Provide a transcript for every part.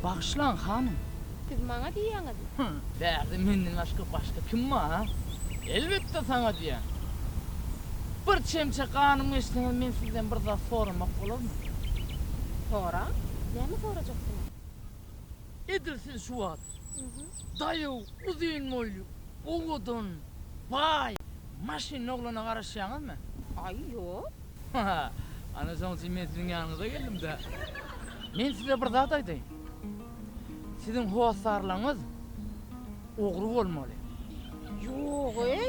Bagyşlaň, hanym. Siz maňa diýýäňizmi? Bärde menden başga başga kim bar? Elbetde saňa diýýän. Bir çemçe ganym geçseňiz men sizden bir zat soramak bolarmy? Soraň, näme sorajaksyňyz? Edil siz şu wagt daýaw, uzyn boýly, owadan, baý, maşynly oglana garaşýaňyzmy? Aý, ýok. Hä, ana şoň üçin men siziň ýanyňyza geldim-dä. Men size bir zat aýdaýyn. Siziň hossarlaryňyz ogry bolmaly. Ýog-eý,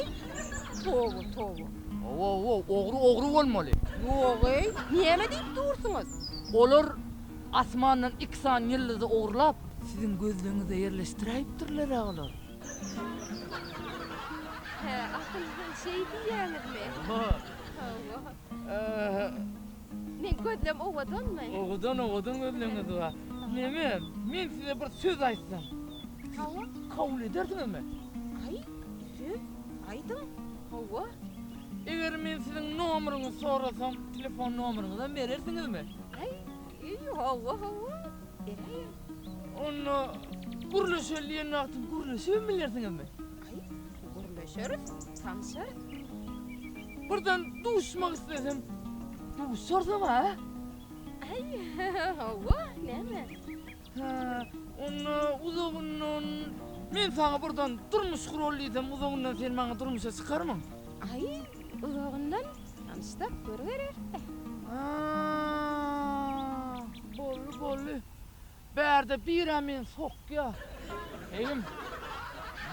toba, toba. Hawa, hawa, ogry, ogry bolmaly. Ýog-eý, näme diýip dursuňyz? Olar Asmandan iki sany ýyldyzy ogurlap, siziň gözleňize ýerleşdiräýipdirler-ä olar. Hä, asyl siz şeý diýýäňizmi? Hawa. Hawa. Aha. Meň gözlem owadanmy? Owadan, owadan gözleňiz bar. Neme, men size bir söz aýtsam. Hawa. Kabul edersiňizmi? Aý, söz? Aýdyň. Hawa. Eger men siziň nomeriňizi sorasam, telefon nomeriňizem berersiňizmi? Aý, hawa, hawa, beräýerin. Onda gürleşeli diýen wagty gürleşibem bilersiňizmi? Aý, gürleşeris, tanşarys. Birden duşmak islesem, duşarsam-a? Aý, hawa, näme? Hä, onda uzagyndan men saňa birden durmuş guraly diýsem, uzagyndan sen maňa durmuşa çykarmyň? Aý, uzagyndan tanyşsak görübereris-dä. Hä, boldy, boldy. Bärde bir-ä men sokýa. Begim,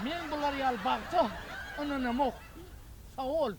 men bular ýaly bagta ynanamok. Sag bol.